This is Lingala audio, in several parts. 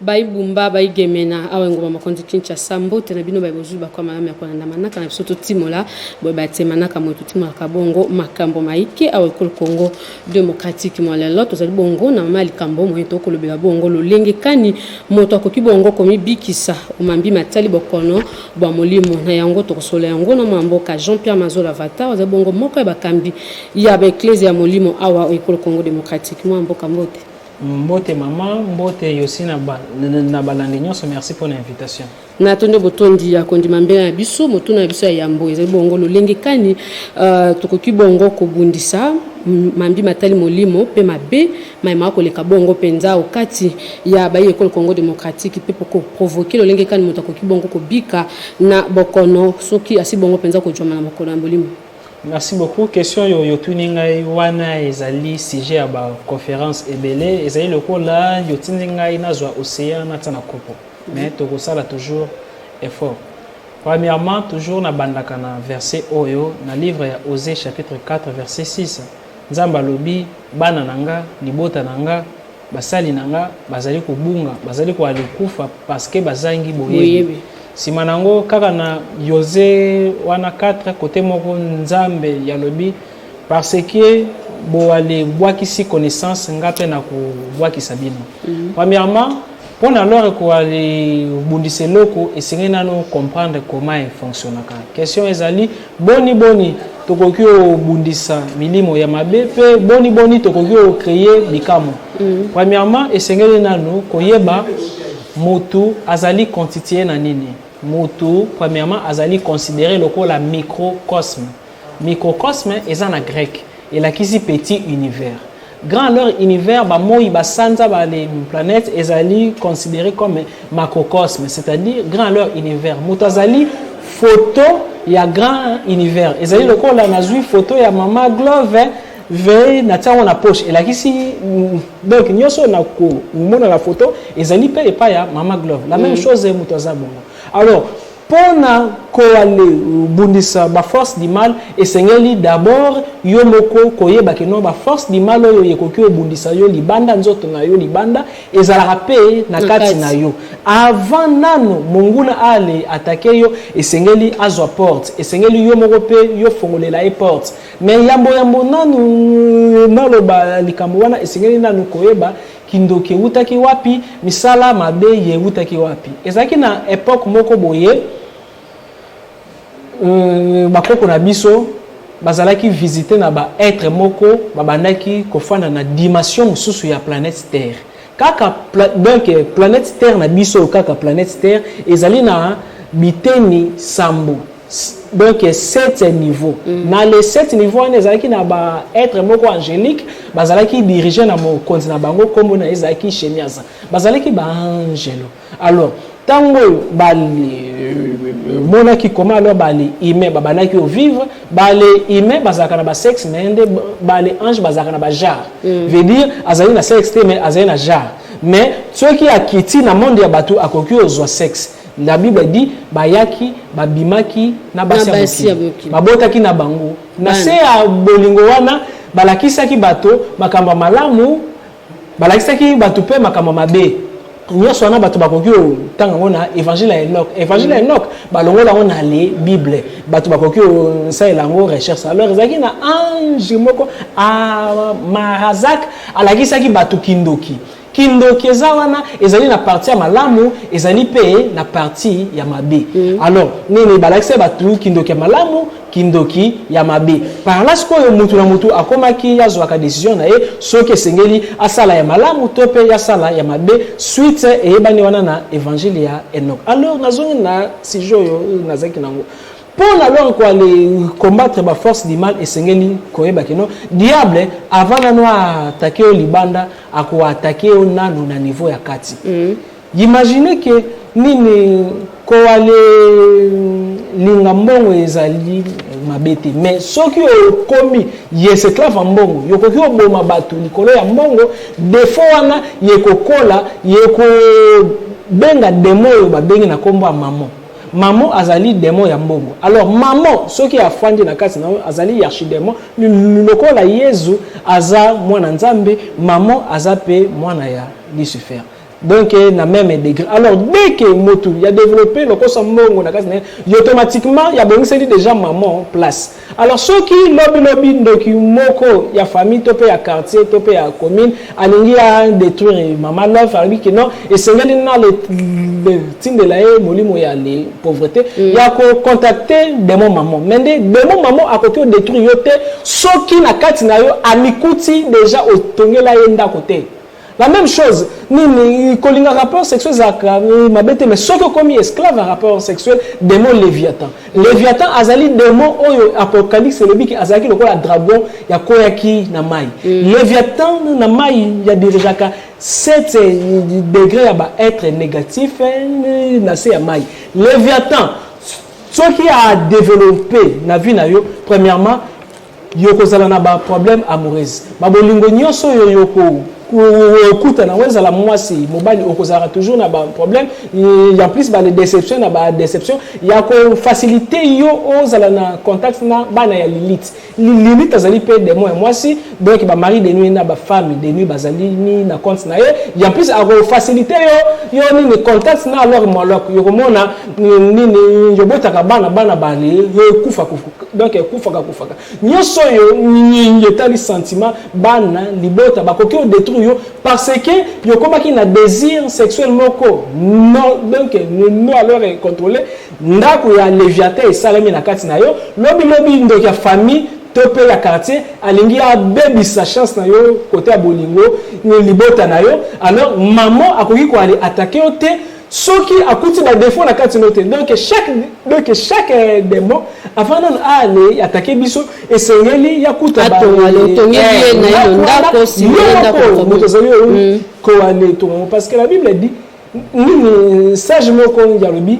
bayi bumba bayi gemena awa engumba mokonzi kinshasa mbote na bino bayi bozwi bakwa malamu ya kolanda manaka na biso totimola boye batie manaka moye totimolaka bongo makambo mayike awa ekolo congo demokratike mwa lelo tozali bongo na mama ya likambo moye tokolobela bongo lolenge kani moto akoki bongo komibikisa omambi matali bokono bwa molimo na yango tokosolola yango na mwa mboka jean pierre mazola vata ozali bongo moko ya bakambi ya baeklezia ya molimo awa oyo ekolo congo démocratique mwa mboka mbote mbote mama mbote yosi na, ba, na balandi nyonso merci mpo na invitation na tondi botondi ya kondima mbela na biso motuna na biso ya yambo ezali bongo lolenge kani uh, tokoki bongo kobundisa mambi matali molimo mpe mabe Maye makoleka bongo penza o kati ya bayi Ecole Congo Democratique mpe ko provoquer lolenge kani moto akoki bongo kobika na bokono soki asi bongo penza kojuama na bokono ya molimo. Merci beaucoup. Question yo yotuni ngai wana ezali sujet ya ba conference ebele ezali lokola yotindi ngai nazwa ocean natia na kopo mais tokosala toujours effort. Premièrement, toujours nabandaka na verset oyo na livre ya Osee chapitre 4 verset 6. Nzambe alobi, Bana na nga, libota na nga, basali na nga bazali kobunga, bazali koale kufa paske bazangi boyebi. Sima na yango kaka na Yoze wana 4 kote moko Nzambe yalobi parceque boale bwakisi connaissance nga mpe na kobwakisa bino. Mhm. Premièrement Mpo na lore koa libundisa eloko esengeli nano comprendre comment efonctionnaka. Question ezali boni boni tokoki obundisa milimo ya mabe mpe boni boni tokoki okreye bikamwa. Mm. Premièrement, esengeli nano koyeba motu azali constitue na nini. Motu, premièrement, azali considere lokola microcosme. Microcosme eza na greke, elakisi petit univers. Grand alors univers, ba moi, ba sanza, ba les planètes ezali considéré comme macrocosme, c'est-à-dire grand alors univers. Moto azali photo ya grand univers. Ezali lokola nazui photo ya mama Glove ve na tiango na poche elakisi mm, donc nyoso na ko mona la photo ezali pe epa ya mama Glove. La même mm. chose moto aza bongo. Alors Mpo na koale bundisa ba force du mal esengeli d'abord yo moko koyeba que non ba force du mal oyo ekoki obundisa yo libanda nzoto na yo libanda ezalaka mpe na kati na yo avant nano monguna aale attaquer yo esengeli azwa porte esengeli yo moko mpe yo fongolela ye porte mais yambo yambo nanu naloba likambo wana esengeli nanu koyeba Kindoki ewutaki wapi? Misala mabe ye ewutaki wapi? Ezalaki na epoque moko boye, euh, bakoko na biso bazalaki visite na ba etre moko babandaki kofanda na dimension mosusu ya planète Terre. Kaka pla, donc planète Terre na biso kaka planète Terre ezali na biteni sambo. donc sept niveau mm. na le sept niveau wana ezalaki na ba être moko angélique bazalaki dirige na mokonzi na bango nkombo na ye ezalaki shemiasa bazalaki baangelo alors ntango oyo bamonaki koma alors bale humain babandaki ovivre bale humain bazalaka na basexe me nde bale ange bazalaka na bajare mm. veut dire azali na sexe te mais azali na jare mais soki akiti na monde ya bato akoki ozwa sexe La Bible dit bayaki babimaki na basi ya mokili babotaki na bango na se ya bolingo wana balakisaki bato makambo ya malamu balakisaki bato mpe makambo mabe nyonso wana bato bakoki kotanga yango na évangile ya enok évangile ya enok balongola yango na le bible bato bakoki kosalela yango recherche alors ezalaki na ange moko ah, marazak alakisaki bato kindoki Kindoki eza wana ezali na parti ya malamu ezali pe na parti ya mabe. Mm. Alors nini balakisa batu kindoki ya malamu kindoki ya mabe. Par là sikoyo mutu na mutu akomaki azwaka decision na ye soki esengeli asala ya malamu to pe ya sala ya mabe suite eyebani wana na evangile ya Enoch. Alors nazongi na sujet oyo nazaki nango. Mpo na lor ko ale combattre ba force du mal esengeli koyeba que no diable avant nanu a attaque yo libanda ako attaque yo nanu na niveau ya kati imagine que nini ko ale linga mbongo ezali mabe te mais soki okomi yeseclave ya mbongo yokoki koboma bato likolo ya mbongo defo wana yekokola yekobenga demo oyo babengi na nkombo ya mamo Maman azali demon ya mbongo. Alors maman soki afandi na kati na yo azali yarchidemon lokola Yezu aza mwana Nzambe, maman aza pe mwana ya Lucifer. Donc na meme degré. Alors dès que mutu ya developper lokosa mbongo na kati na ye, automatiquement ya bongiseli dejà maman place. Alors soki lobi lobi ndoki moko ya famille to pe ya quartier to pe ya commune alingi a detruire mama love alobi ke non esengeli na le, le tindela ye molimo ya le pauvreté mm. ya ko contacter demon maman mais nde demon maman akoki o detruire yo te soki na kati na yo amikuti déjà otongela ye ndako te La meme chose, nini kolinga rappeur sexuel ezalaka euh, mabe te mais soki okomi esclave ya rappeur sexuel démon Léviathan. Léviathan azali démon oyo Apocalypse elobi ki azalaki lokola dragon ya koyaki na mai. Mm. Léviathan na mai ya dirigeaka 7 euh, degré ya ba être négatif euh, na se ya mai. Léviathan soki a développer na vie na yo premièrement yo kozala na ba problème amoureuse ba bolingo nyonso oyo yo okuta nango ezala mwasi mobali okozalaka toujours na ba problème ya plus ba déception na ba déception ya kofacilite yo ozala na contact na bana ya lilite lilite azali mpe demo ya mwasi donc bamari de nuit na bafami de nuit bazali ni na compte na ye ya plus akofacilite yo yo nini contact na alor molok yokomona nini yobotaka bana bana bale yo ekufa kufa donc ekufaka kufaka nyonso oyo nyenge etali sentiment bana libota bakoki odétruire yo parce que yokomaki na désir sexuel moko no donc no alors contrôle ndako ya leviathan esalami na kati na yo lobilobi ndoki ya famille to mpe ya quartier alingi abebisa chance na yo kote ya bolingo libota na yo alors maman akoki koale atake yo te soki akuti ba défaut na kati no te donc chaque donc chaque euh, démon avant nanu ale attaquer biso esengeli ya kuta ba moto azali oyo koale tongo parce que la bible dit nini sage moko ngi alobi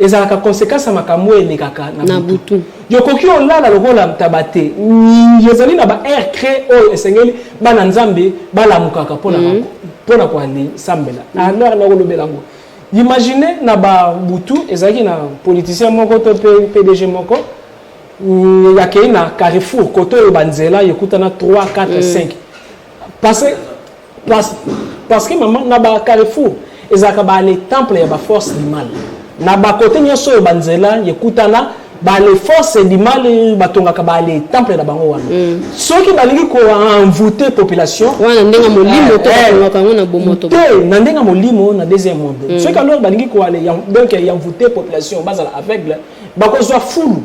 Ezalaka consequence ya makambo oyo elekaka na butu. Yokoki olala lokola ntaba te. Ezali na ba heure cre oyo esengeli bana Nzambe balamukaka mpo na mhm. mpo na koalisambela. Mhm. Na heure nakolobela yango. Imagine na ba butu ezalaki na politicien moko to mpe PDG moko mm, yakei na Carrefour koto oyo banzela yokutana 3 4 5 parce Parce, parce que maman, na ba carrefour, ezalaka ba les temples ya ba force du mal. Na ba côté nyoso oyo banzela yekutana ba les forces du mal batongaka ba les temples na bango wana. Mm. Soki balingi ko envoûter population. Wana ndenga molimo eh, to eh, batongaka ngo na bomoto. Te na ndenga molimo na deuxième monde. Mm. Soki alors balingi ko aller donc envoûter population bazala aveugle bakozwa fulu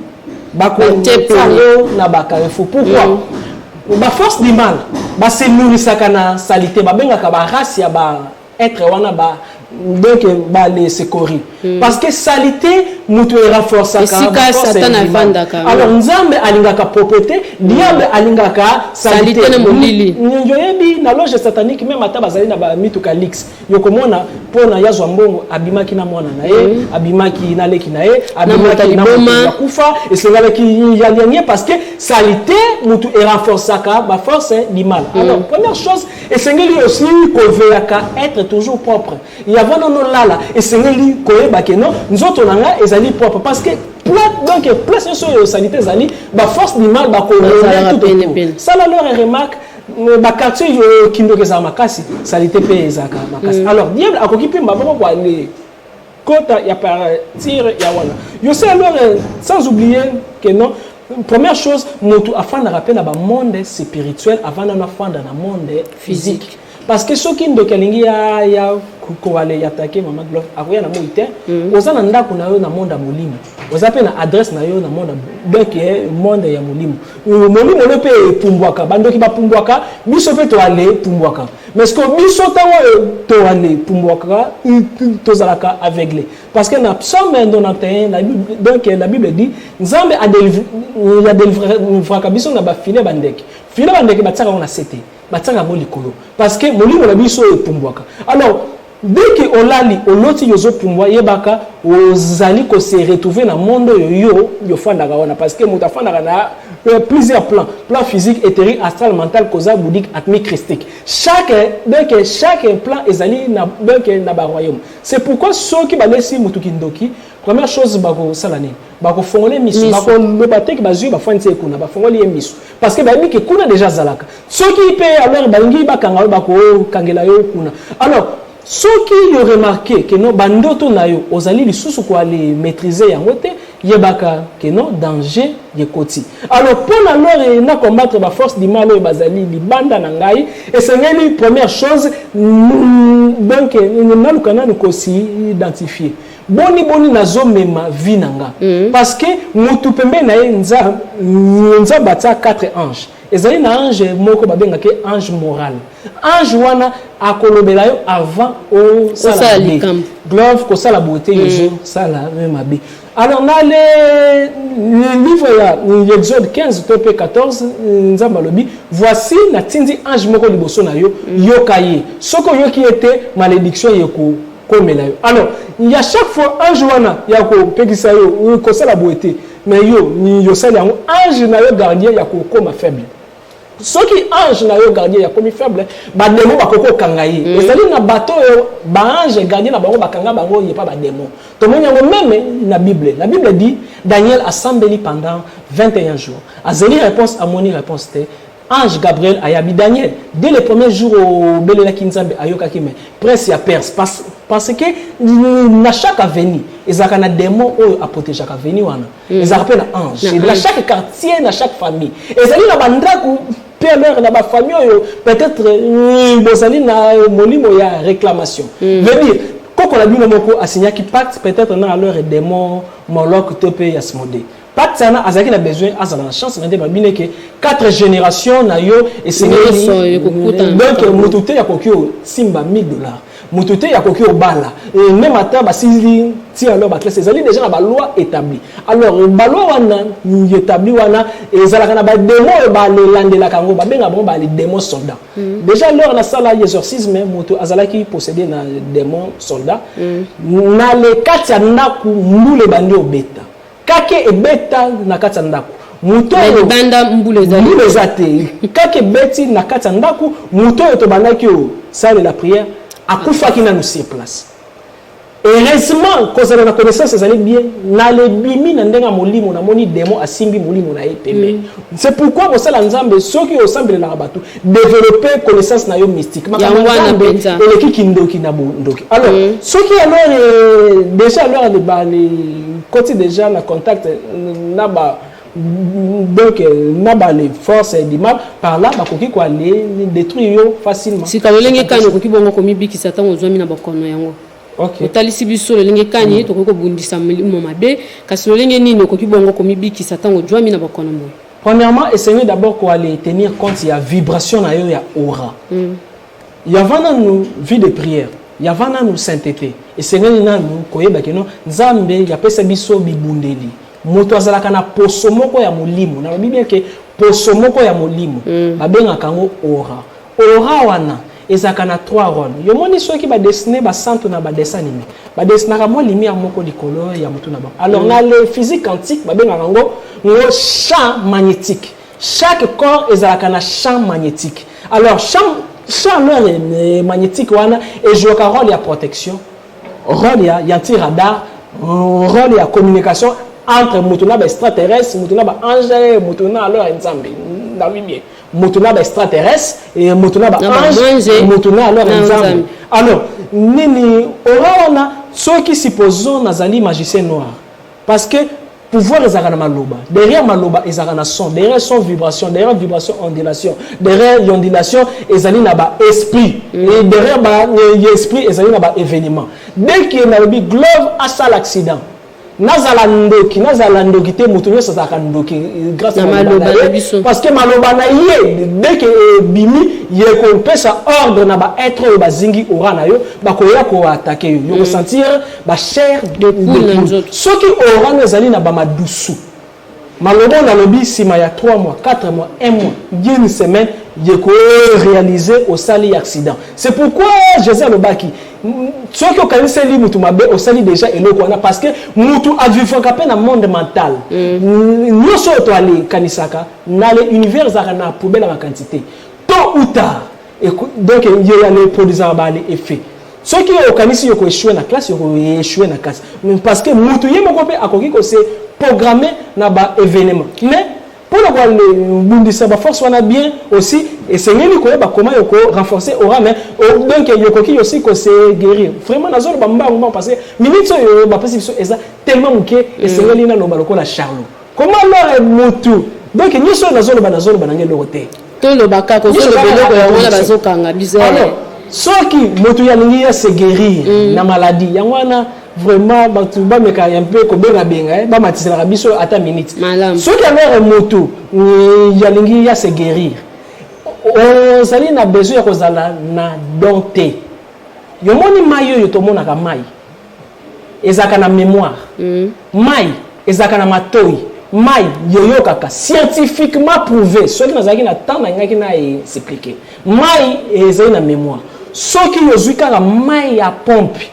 bakotepa yango na bacarrefour pourquoi mm. ba force du mal base nourrisaka na salite babengaka barace ya ba être wana ba donc bale sekori mm. parce que salite moto erenforceakaesikasatanavandakaalo nzambe alingaka propreté diable mm. alingaka salite na molili oyebi na loge satanique meme ata bazali na bamituka lix yo komona mpo na yazwa mbongo abimaki na mwana na ye mm. abimaki na leki na ye abimaki na moto ya kufa esengalaki yalianie parce que salite motu erenforcaka baforce limala mm. alors première chose esengeli aussi koveyaka être toujours propre yavo nono lala esengeli koyeba ke no nzoto na nga ezali propre parce que donc place nyonso oyo salite ezali baforce limala bakolona tout sala lore remarque ba quartier yo kindoki ezala makasi salite pe ezalaka makasi alors diable akoki pe maboko kwa le kota ya partir ya wana yo se alors sans oublier que non première chose motu afandaka pe na ba monde spirituel avant nanu afanda na monde physique parce que soki ndoki alingi ya ya kowale ya take mama gloire akoya na moi te oza na ndako na yo na monde ya molimo oza mpe na adresse na yo na monde donc eh, monde ya molimo euh, molimo no mpe epumbwaka bandoki bapumbwaka biso mpe toale epumbwaka mais ce que biso ntango oyo euh, toale epumbwaka euh, tozalaka aveugle parce que na psaume 91 la bible, donc la bible dit nzambe adelivraka biso na bafile bandeke file bandeke batiaka yango na sete batiaka yango likolo parce que molimo na biso epumbwaka alors Dès que olali oloti yo zo pumbwa yebaka ozali ko se retrouver na monde oyo yo yo fandaka wana parce que moto afandaka na euh, plusieurs plans plan physique etherique astral mental koza bouddhique atmique christique chaque dès que chaque plan ezali na dès que na ba royaume c'est pourquoi soki balesi moto kindoki Première chose bakosala nini bakofongola ye misu bakoloba te ke bazwi bafandisi ye kuna bafongoli ye misu parce que bayebi ke kuna deja azalaka soki mpe alors balingi bakanga yo bakokangela yo kuna alors soki yo remarke ke non bandoto na yo ozali lisusu koale maîtrise yango te yebaka ke non danger yekoti alors mpo na lore na combattre baforce du mal oyo bazali libanda na ngai esengeli première chose donc naluka nanu kosi identifie boni boni nazomema vie na nga mm. parce que motu pembeni na ye nzambe atia 4 ange ezali na ange moko babengaka ye ange moral ange wana akolobela yo avant osala mabe glove kosala boye te ezosala mm. me mabe alors na le livre ya exode 15 to mpe 14 nzambe alobi voici natindi ange moko liboso na yo mm. yoka ye soki oyoki ye te malédiction yeko komela yo alors ya chaque fois ange wana ya kopekisa yo kosala boye te mais yo nini yosali yango ange na yo gardien ya kokoma faible soki ange na yo gardien ya komi faible bademo bakoki kokanga ye mm. ezali na bato oyo baange gardien na bango bakanga bango ye pa bademo tomoni yango meme na bible na bible dit daniel asambeli pendant 21 jours azeli réponse amoni réponse te Ange Gabriel ayabi Daniel dès le premier jour obelelaki Nzambe ayokaki mais presse ya Perse parce, parce que na chaque avenue ezalaka na démon oyo aprotegeaka avenue wana mm. ezalaka mpe na ange mm. na chaque quartier na chaque famille ezali na bandako pmr na bafamille oyo peut-être mm, bozali na molimo ya réclamation mm. veut dire koko na bino moko asignaki pacte peut-être na alors démon moloc to mpe yasmode Pat sana azalaki na besoin azala na chance na nde ba bine ke quatre générations na yo esengeli donc moto te akoki osimba 1000 dollars moto te akoki obala et même ata basili ti alors baklasse ezali déjà na baloi établi alors baloi wana établi wana ezalaka na bademo oyo balelandelaka yango babenga bango baledemo soldat mm. déjà lors nasala exorcisme moto azalaki possédé na démon soldat mm. na le kati ya ndako mbula ebandi obeta Kake ebeta na kati ya ndako moto oyo libanda mbula eza te kake ebeti na kati ya ndako moto oyo tobandaki oyo salela prière akufaki nanu sur place heureusement kozala na connaissance ezali bien na lebimi na ndenge ya molimo namoni demo asimbi molimo na ye pembe mm. c'est pourquoi kosala nzambe soki osambelelaka bato developper connaissance na yo mystique makambo ya nzambe eleki kindoki na bondoki alors mm. soki alors euh, déjà alors de bani koti déjà na contact na ba donc euh, na bale force edima par là bakoki koale détruire yo facilement sika lolenge kani okoki bongo komibikisa ntango ozwami na bokono yango okay. otalisi biso lolenge kani mm. tokoki kobundisa molimo mabe kasi lolenge nini okoki bongo komibikisa ntango ozwami na bokono moye Premièrement, esengeli d'abord ko aller tenir compte ya vibration na yo ya aura. Mm. Yava nanu vie de prière, yava nanu sainteté. Esengeli nanu koyeba ke non Nzambe yapesa biso bibundeli. Moto azalaka na poso moko ya molimo. Nalobi bien ke poso moko ya molimo. Mm. Babengaka yango aura. Colorant wana ezalaka na trois roles. Yo moni soki ba dessiner ba santu na ba dessin anime, ba dessinaka mwa lumière moko likolo ya mutu na bango. Alors na le physique quantique ba bengaka yango ngo champ magnetique. Chaque corps ezalaka na champ magnetique. Alors champ champ leur eh, magnetique wana e jouaka role ya protection, role ya ya anti radar, role ya communication entre mutu na ba extraterrestre, mutu na ba ange, mutu na alors nzambe. Na bien. moto na ba extraterrestre eh, moto na ba ange moto na alors nzambe alors nini ora wana soki supposons nazali magicien noir parce que pouvoir ezalaka na maloba derrière maloba ezalaka na son derrière son vibration derrière vibration ondulation derrière ondulation ezali na ba esprit mm. et derrière ba esprit ezali na ba événement dès que nalobi glove asala accident nazala ndoki nazala ndoki te moto nyonso azalaka ndoki eh, grâce na maloba na biso parce que maloba na ye deke ebimi eh, ye kopesa ordre na baêtre oyo bazingi ora na yo bakoya koatake yo yo mm. kosentir bachaire de poule soki orano ezali na bamadusu Maloba oyo nalobi sima ya trois mois, quatre mois, un mois, bien une semaine, ye ko realiser osali accident. C'est pourquoi Jesus alobaki soki okaniseli mutu mabe osali deja eloko wana parce que mutu avivaka mpe na monde mental mm. nyonso oyo toalekanisaka na le univers ezalaka na poubele ya makanisi te tôt ou tard donc yo ya ne produisaka ba effet soki okanisi yoko echue na classe yoko echue na classe parce que mutu ye moko mpe akoki kose programme na ba événement mais mpo na kobundisa baforce wana bien aussi esengeli koyeba koma yoko renforcer aura mais donc yokoki yosi kose guérir vraiment nazoloba mbangu mbangu parce que minute oyo bapesi biso eza tellement moke esengeli naloba lokola charlot Comment lore mutu donc nyoso oyo nazoloba nazoloba nanga eloko te tolobaka kozoloba eloko yango wana bazokanga bizo soki moto ya lingi ya se guérir mm. na maladie yango wana vraiment bato bameka un peu kobengabenga eh, bamatiselaka biso ata minute soki alore moto eh, ya lingi ya se guérir ozali na besoin ya kozala na don te yomoni mai oyo tomonaka mai ezalaka na memoire mayi ezalaka na matoyi mayi yoyokaka scientifiquement prouve soki nazalaki na temps nalingaki na explique mayi ezali na memoire soki yozwi kaka mayi ya pompe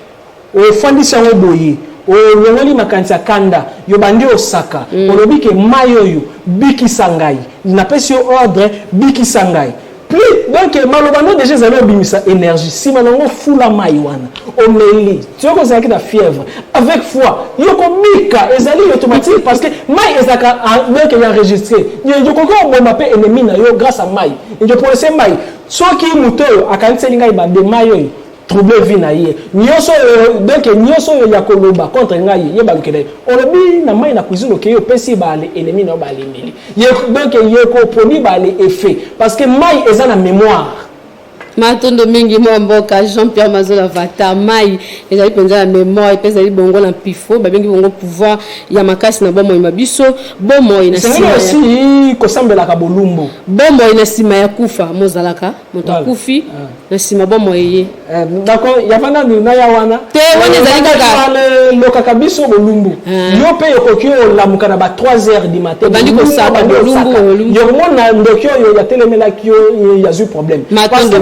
ofandisi yango boye olongoli makanisi ya kanda yobandi osaka mm. olobi ke mayi oyo bikisa ngai napesi yo ordre bikisa ngai Plus, donc maloba no deja ezali obimisa energie nsima nango fula mai wana omeli soki ozalaki na fièvre avec foi yo kobika ezali automatique parce que mai ezalaka donc ya enregistre okoki oboma mpe ennemi na yo grâce à mai ndio polise mai soki moto oyo akaniseli ngai bande mai oyo trouble vie na ye nyonso oyo donc nyonso oyo ya koloba contre ngai ye balukela ye olobi na mai na cuisine okei opesi baale elemi na yo baalembeli donc ye koproduit baale effet parce que mai eza na mémoire matondo mingi mwa mboka jean pierre mazola vata mai ezali mpenza ya memoire mpe ezali bongo na mpifo babengi bongo pouvoir ya makasi na bomoi na biso bomoi na kosambelaka bolumbu bomoi na nsima ya kufa mozalaka moto akufi na nsima bomoi eye eh, yava nanu naya wana te wana ezali kakalokaka eh, biso bolumbu eh. yo mpe okoki olamuka na ba 3 heures du matin obandi kosaka bolumbu yokomona ndoki oyo yatelemelaki yo yazwi problème matondo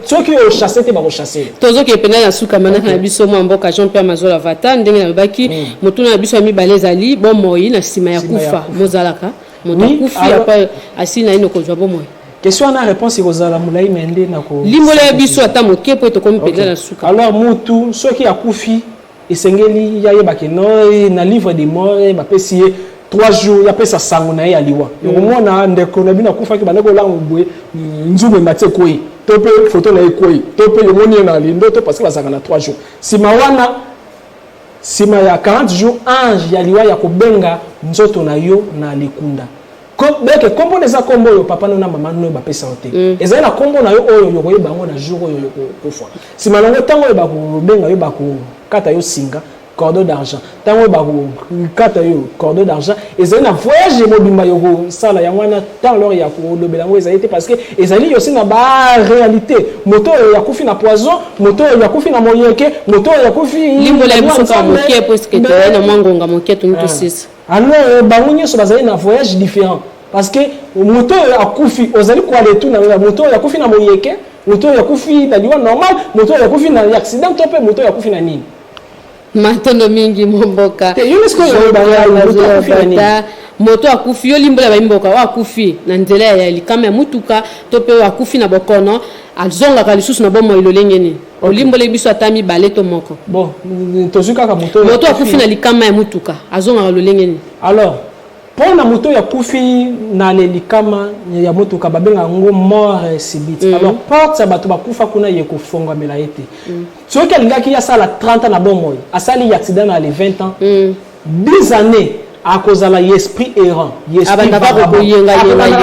soki ochasse te bakochasse tozokee mpenza na suka manaka na biso mwa mboka jean pierre mazola vata ndenge nalobaki motuna na biso ya mibale ezali bomoi na nsima ya kufa mozalaka moto akufi apa asili naino kozwa bomoi question wana réponse ekozala molai me nde nakolimbola ya biso ata moke mpo tokomi mpenza na suka alors mutu soki akufi esengeli ya yebake no eh, na livre de mort eh, bapesi ye 3 jours yapesa sango na ye ya liwa mm. okomona ndeko na bino akufaki bande kolango boye nzungu emati ekwei to mpe foto na ye ekwei to mpe yomoni ye na lindo to parce que bazalaka na 3 jours nsima wana Sima ya 40 jours ange ya liwa ya kobenga nzoto na yo na likunda. Ko, beke kombo na eza kombo oyo papa no na maman no bapesa yo te. Mm. Ezali na kombo na yo oyo yokoyeba yango na jour oyo yokokufa. Sima nango tango oyo bakobenga yo bakokata yo singa cordeau d'argent. Tango oyo bakokata yo cordeau d'argent Ezali na voyage mobimba yoko sala yango wana temps lors ya ko lobela yango ezali te parce que ezali aussi na ba réalité moto oyo ya kufi na poison moto oyo ya kufi na moyeke moto oyo ya kufi limbola ya biso ka moke parce que tozali na mwa ngonga moke tuni ah. tosisi alors bango nyonso bazali na voyage différent parce que moto oyo akufi ozali koala etu na yo moto oyo akufi na moyeke moto oyo akufi na liwa normal moto oyo akufi na accident to mpe moto oyo akufi na nini matondo mingi momboka moto akufi yo limbola baimboka oyo akufi na nzela ya likama ya motuka to mpe oyo akufi na bokono azongaka lisusu na bomoi lolenge nini olimboleli biso ata mibale to moko bon tozwi kaka moto moto akufi na likama ya motuka azongaka lolenge nini alors mpo na moto oyo akufi na lelikama ya motuka babengaka yango mort subite mm. alors porte ya bato bakufa kuna ye kofongwamela ye te mm. Soki alingaki asala 30 ans na bomoi, asali accident na le 20 ans, 10 annees akozala ye esprit errant abandaka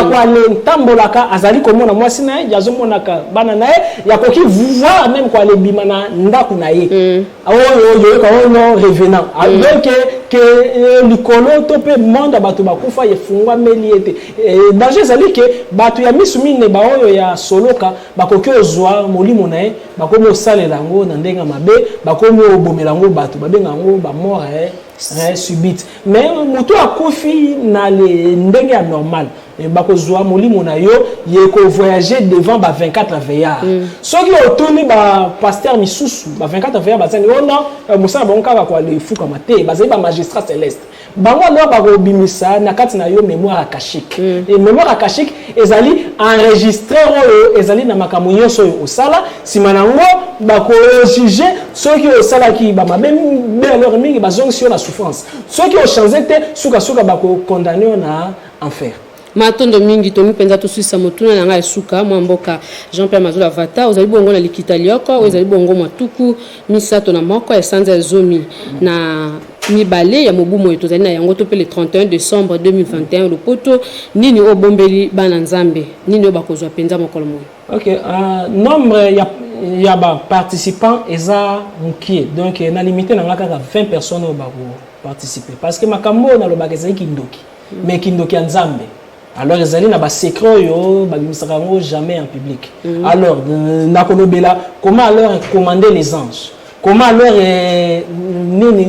koale ntambolaka azali komona mwasi na ye azomonaka bana na ye yakoki voir meme koale bima na ndako na ye mm. ah, oyo oyoka oyo no revenant ah, mm. donc ke eh, likolo to mpe monde ya bato bakufa efungwameli ete eh, danger ezali ke bato ya misu mine baoyo ya soloka bakoki ozwa molimo na ye Bakomi kosalela yango na ndenge ya mabe, bakomi kobomela yango bato, babenga yango bamort eh, eh, subite. Mais moto akufi na ndenge ya normal eh, bakozwa molimo na yo ye kovoyage devant ba 24 veillard mm. soki otuni bapaster misusu ba 24 veillard bazangi oh ona eh, mosala bango kaka koalefukama te bazali bamagistrat celeste bango alors bakobimisa na kati na yo mémoire akashique mm. et mémoire akashique ezali enregistreur oyo ezali na makambo nyonso oyo osala nsima na yango bakojuge soki osalaki bamabe be alors mingi bazongisi yo na souffrance soki ochange te sukasuka bakokondane yo na enfer Matondo mingi toni mpenza toswisa motuna na ngai ya suka mwa mboka jean pierre mazola vata ozali bongo na likita lioko oyo ezali bongo mwa tuku misato na moko ya sanza ya zomi na mibale ya mobu moye tozali na yango to mpe le 31 décembre 2021 lopoto nini oyo obombeli bana nzambe nini oyo bakozwa mpenza mokolo moye ok uh, nombre ya ya baparticipant eza mokie donc na limite na ngai kaka 20 personnes oyo bakoparticipe parce que makambo oyo nalobaka ezali kindoki mais kindoki ya nzambe alors ezali na basecret oyo babimisaka yango jamais en public mm. alors euh, nakolobela comment alors commande les anges comment alors euh, nini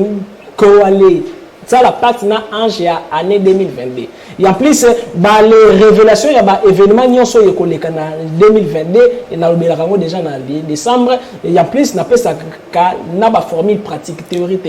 koale sala pacte na ange ya année 2022 et en plus bale révélation ya baévénement nyonso oyo ekoleka na 2022 nalobelaka yango déjà na décembre et en plus napesaka na baformule pratique théorie te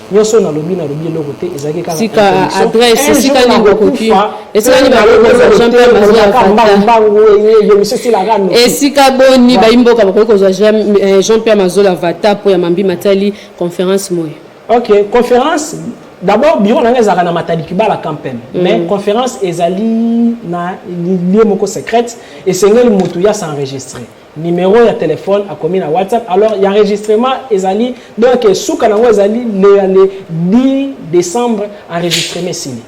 nyonso oyo nalobi nalobi eloko te ezalaki kakasika adresse esika nini bokoki esika nini esika boni bayimboka bakoki kozwa eh, jean pierre mazola vata mpo ya mambi matali conférence moye ok conférence d'abord bureau na ngai ezalaka na matali kibala campem mm. mais conférence ezali na lieu moko secrète esengeli motu ya s'enregistrer numero ya telephone akomi na whatsapp alors ya enregistrement ezali donc suka nango ezali le, le 10 décembre enregistrement esili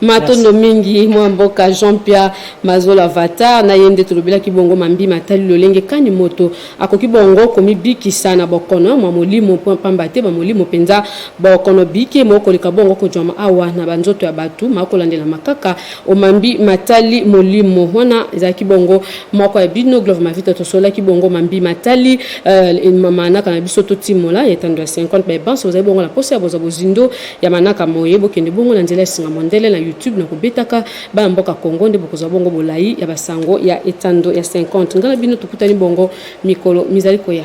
matondo mingi mwa mboka jean pierre mazola vatar na ye nde tolobelaki bongo mambi matali lolenge kani moto akoki bongo komibikisa na bokono mwa molimo mpo mpamba te bamolimo mpenza bokono bike mokoleka bongo kojwama awa na banzoto ya bato makolandelama kaka O mambi matali molimo, wana ezalaki bongo moko ya bino Glove Mavita tosololaki bongo mambi matali euh, manaka na biso totimola ya etando ya 50 baye banso bozali bongo na posa ya bozwa bozindo ya manaka moye bokende bongo na nzela ya singa mondele na YouTube na kobetaka bana mboka Congo nde bokozwa bongo bolai ya basango ya etando ya 50 ngai na bino tokutani bongo mikolo mizali koya